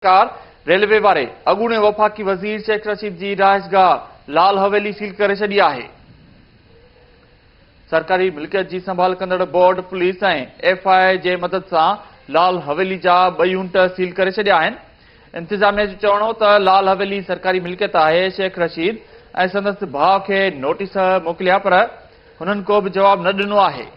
ڪار railway واري اڳوڻي وفاقي وزير شيخ رشيد جي رهائشگاهه لال حويلي سيل ڪري ڇڏي آهي. سرڪاري ملڪيت جي سنڀال ڪندڙ board police ۽ F I A جي مدد سان لال حويلي جا ٻه يونٽ سيل ڪري ڇڏيا آهن. انتظاميه جو چوڻ هو ته لال حويلي سرڪاري ملڪيت آهي، شيخ رشيد ۽ سندس ڀاء کي نوٽيس موڪليا پر هنن ڪو به جواب نه ڏنو آهي.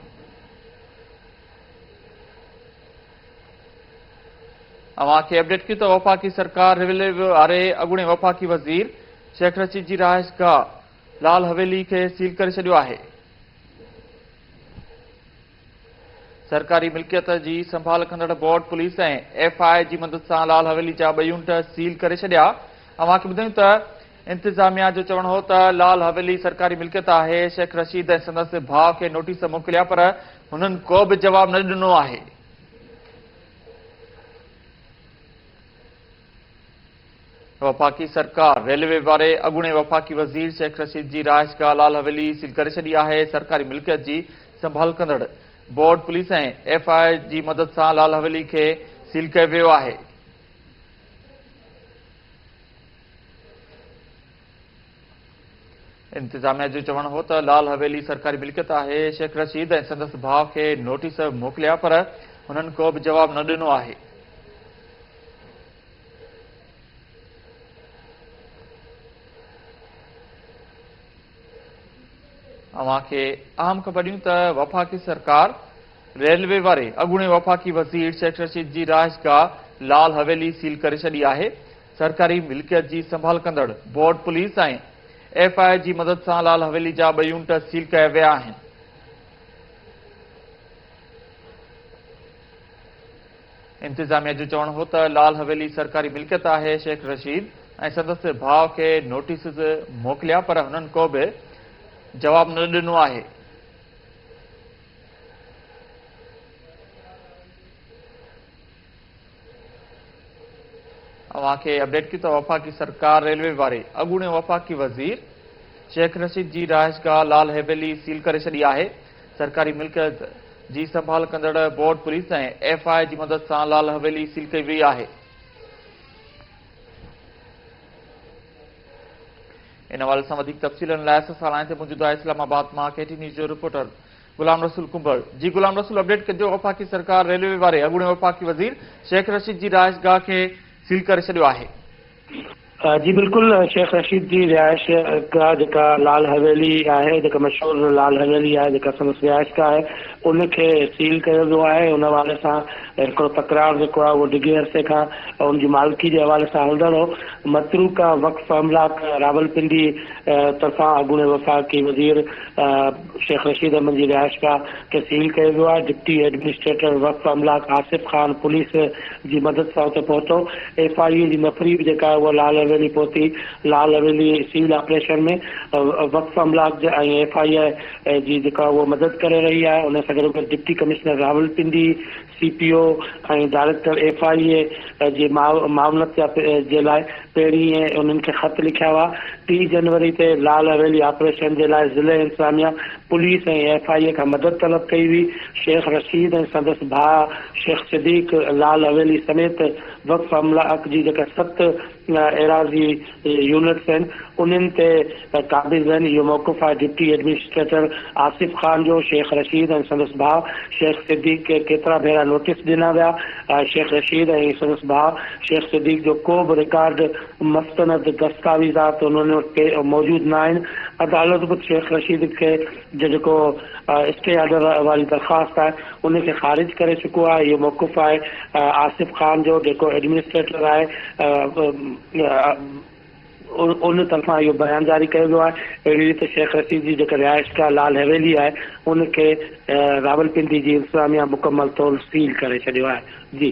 اوهان کي اپڊيٽ ڪيون ته وفاقي سرڪار ريولي واري اڳوڻي وفاقي وزير شيخ رشيد جي رهائش گاهه لال حويلي کي سيل ڪري ڇڏيو آهي سرڪاري ملڪيت جي سنڀال ڪندڙ بورڊ پوليس ۽ ايف آء جي مدد سان لال حويلي جا ٻه يونٽ سيل ڪري ڇڏيا اوهان کي ٻڌايون ته انتظاميا جو چوڻ هو ته لال حويلي سرڪاري ملڪيت آهي، شيخ رشيد ۽ سندس ڀاء کي نوٽيس موڪليا پر هنن ڪو به جواب نه ڏنو آهي. وفاقي سرڪار ريلوي واري اڳوڻي وفاقي وزير شيخ رشيد جي رهائش گاهه لال حويلي سيل ڪري ڇڏي آهي، سرڪاري ملڪيت جي سنڀال ڪندڙ بورڊ پوليس ۽ ايف آء جي مدد سان لال حويلي کي سيل ڪيو ويو آهي. انتظاميا جو چوڻ هو ته لال حويلي سرڪاري ملڪيت آهي شيخ رشيد ۽ سندس ڀاء کي نوٽيس موڪليا پر هنن ڪو به جواب نه ڏنو آهي اوهان کي اهم خبر ڏيون ته وفاقي سرڪار ريلوي واري اڳوڻي وفاقي وزير شيخ رشيد جي رهائشگاهه لال حويلي سيل ڪري ڇڏي آهي سرڪاري ملڪيت جي سنڀال ڪندڙ board police ۽ F I A جي مدد سان لال حويلي جا ٻه يونٽ سيل ڪيا ويا آهن. انتظاميا جو چوڻ هو ته لال حويلي سرڪاري ملڪيت آهي، شيخ رشيد ۽ سندس ڀاء کي نوٽيسز موڪليا پر هنن ڪو به جواب نه ڏنو آهي. اوهان کي اپڊيٽ ڪيون ته وفاقي سرڪار ريلوي واري اڳوڻي وفاقي وزير شيخ رشيد جي رهائشگاهه لال حيويلي سيل ڪري ڇڏي آهي سرڪاري ملڪيت جي سنڀال ڪندڙ بورڊ پوليس ۽ ايف آء جي مدد سان لال حويلي سيل ڪئي وئي آهي ان حوالي سان وڌيڪ تفصيلن لاء اسان سان لائن تي موجود آهي اسلام آباد مان ڪي ٽي نيوز جو رپورٽر غلام رسول ڪنڀر، جي غلام رسول اپڊيٽ ڪجو وفاقي سرڪار ريلوي واري اڳوڻي وفاقي وزير شيخ رشيد جي رهائش گاهه کي سيل ڪري ڇڏيو آهي. جي بلڪل شيخ رشيد جي رهائش گاهه جيڪا لال حويلي آهي جيڪا مشهور لال حويلي آهي جيڪا سندس رهائش گاهه آهي ان کي سيل ڪيو ويو آهي ان حوالي سان هڪڙو تڪرار جيڪو آهي اهو ڊگهي عرصي کان ان جي مالڪي جي حوالي سان هلندڙ هو متروڪه وقف املاڪ راولپنڊي طرفان اڳوڻي وفاقي وزير شيخ رشيد احمد جي رهائشگاهه کي سيل ڪيو ويو آهي، ڊپٽي ايڊمنسٽريٽر وقف املاڪ آصف خان پوليس جي مدد سان اتي پهتو، ايف آء اي جي نفريب جيڪا آهي اها لال حويلي پهتي، لال حويلي سيل آپريشن ۾ وقف املاڪ جي ۽ ايف آء اي جي جيڪا اهو مدد ڪري رهي آهي، ان سان گڏوگڏ deputy commissioner Rawalpindi, C P O ۽ director F I A جي معاونت جي لاء پهرين ئي انهن کي خط لکيا هئا. ٽي جنوري تي لال حويلي آپريشن جي لاء ضلعي انتظاميا، پوليس ۽ ايف آء اي کان مدد طلب ڪئي هئي. شيخ رشيد ۽ سندس ڀاء شيخ صديق لال حويلي سميت وقف عملا اڪ جي جيڪا ست، ايراضي يونٽس آهن انهن تي قابض آهن اهو موقف آهي ڊپٽي ايڊمنسٽريٽر آصف خان جو شيخ رشيد ۽ سندس ڀاء شيخ صديق کي ڪيترا ڀيرا نوٽيس ڏنا ويا شيخ رشيد ۽ سندس ڀاء شيخ صديق جو ڪو به رڪارڊ مستند دستاويزات انهن وٽ موجود نه آهن عدالت به شيخ رشيد کي جو جيڪو اسٽي آرڊر واري درخواست آهي ان کي خارج ڪري چڪو آهي اهو موقف آهي آصف خان جو جيڪو ايڊمنسٽريٽر آهي ان طرفان اهو بيان جاري ڪيو ويو آهي اهڙي ريت شيخ رشيد جي جيڪا رهائشگاهه لال حويلي آهي ان کي راولپنڊي جي انتظاميا مڪمل طور سيل ڪري ڇڏيو آهي جي.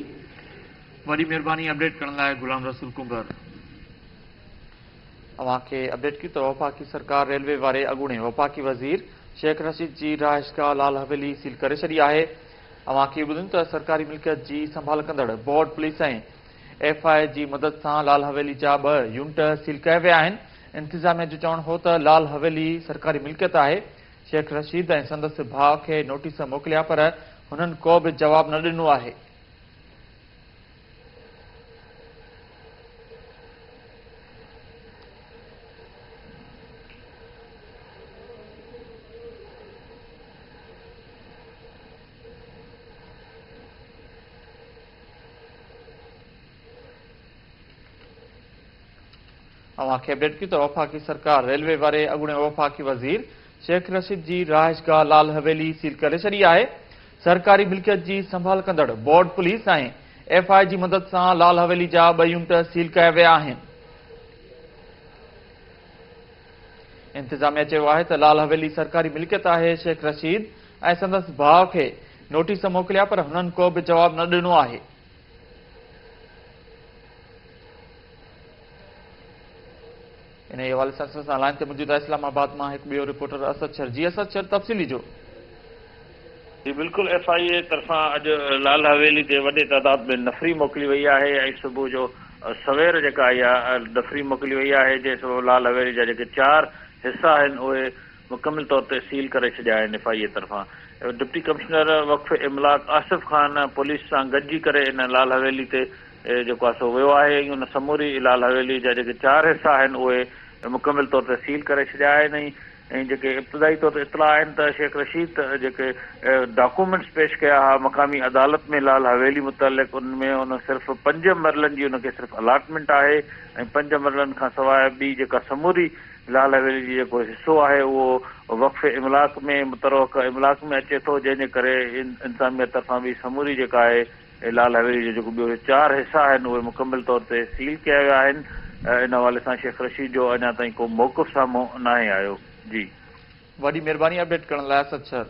وڏي مھرباني اپڊيٽ ڪرڻ لاء غلام رسول ڪنڀر. اوهان کي اپڊيٽ ڪيون ته وفاقي سرڪار ريلوي واري اڳوڻي وفاقي وزير شيخ رشيد جي رهائشگاهه لال حويلي سيل ڪري ڇڏي آهي اوهان کي ٻڌيون ته سرڪاري ملڪيت جي سنڀال ڪندڙ board police ۽ F I A جي مدد سان لال حويلي جا ٻه يونٽ سيل ڪيا ويا آهن انتظاميا جو چوڻ هو ته لال حويلي سرڪاري ملڪيت آهي شيخ رشيد ۽ سندس ڀاء کي نوٽيس موڪليا پر هنن ڪو به جواب نه ڏنو آهي اوهان کي اپڊيٽ ڪيون ته وفاقي سرڪار ريلوي واري اڳوڻي وفاقي وزير شيخ رشيد جي رهائشگاهه لال حويلي سيل ڪري ڇڏي آهي، سرڪاري ملڪيت جي سنڀال ڪندڙ بورڊ پوليس ۽ ايف آء جي مدد سان لال حويلي جا ٻه يونٽ سيل ڪيا ويا آهن. انتظاميا چيو آهي ته لال حويلي سرڪاري ملڪيت آهي، شيخ رشيد ۽ سندس ڀاء کي نوٽيس موڪليا پر هنن ڪو به جواب نه ڏنو آهي. انهيء حوالي سان سنسان لائين تي موجود آهي اسلام آباد مان هڪ ٻيو رپورٽر اسد شر جي اسد شر تفصيلي جو. جي بلڪل ايف آء اي طرفان اڄ لال حويلي تي وڏي تعداد ۾ نفري موڪلي وئي آهي ۽ صبح جو سوير جيڪا اها نفري موڪلي وئي آهي جنهن سبب لال حويلي جا جيڪي چار حصا آهن اهي مڪمل طور تي سيل ڪري ڇڏيا آهن ايف آء اي طرفان ڊپٽي ڪمشنر وقف املاڪ آصف خان پوليس سان گڏجي ڪري ان لال حويلي تي اهي جيڪو آهي سو ويو آهي ۽ ان سموري لال حويلي جا جيڪي چار حصا آهن اهي مڪمل طور تي سيل ڪري ڇڏيا آهن ۽ ۽ جيڪي ابتدائي طور تي اطلاع آهن ته شيخ رشيد جيڪي ڊاڪومينٽس پيش ڪيا ها مقامي عدالت ۾ لال حويلي متعلق ان ۾ ان صرف پنج مرلن جي ان کي صرف الاٽمينٽ آهي ۽ پنج مرلن کان سواء ٻي جيڪا سموري لال حويلي جي جيڪو حصو آهي اهو وقف املاڪ ۾ متروقع املاڪ ۾ اچي ٿو جنهن جي ڪري انتظاميه طرفان به سموري جيڪا آهي ۽ لال حويلي جو جيڪو ٻيو چار حصا آهن اهي مڪمل طور تي سيل ڪيا ويا آهن ان حوالي سان شيخ رشيد جو اڃا تائين ڪو موقف سامهون ناهي آيو جي. وڏي مھرباني اپڊيٽ ڪرڻ لاء اسد سر.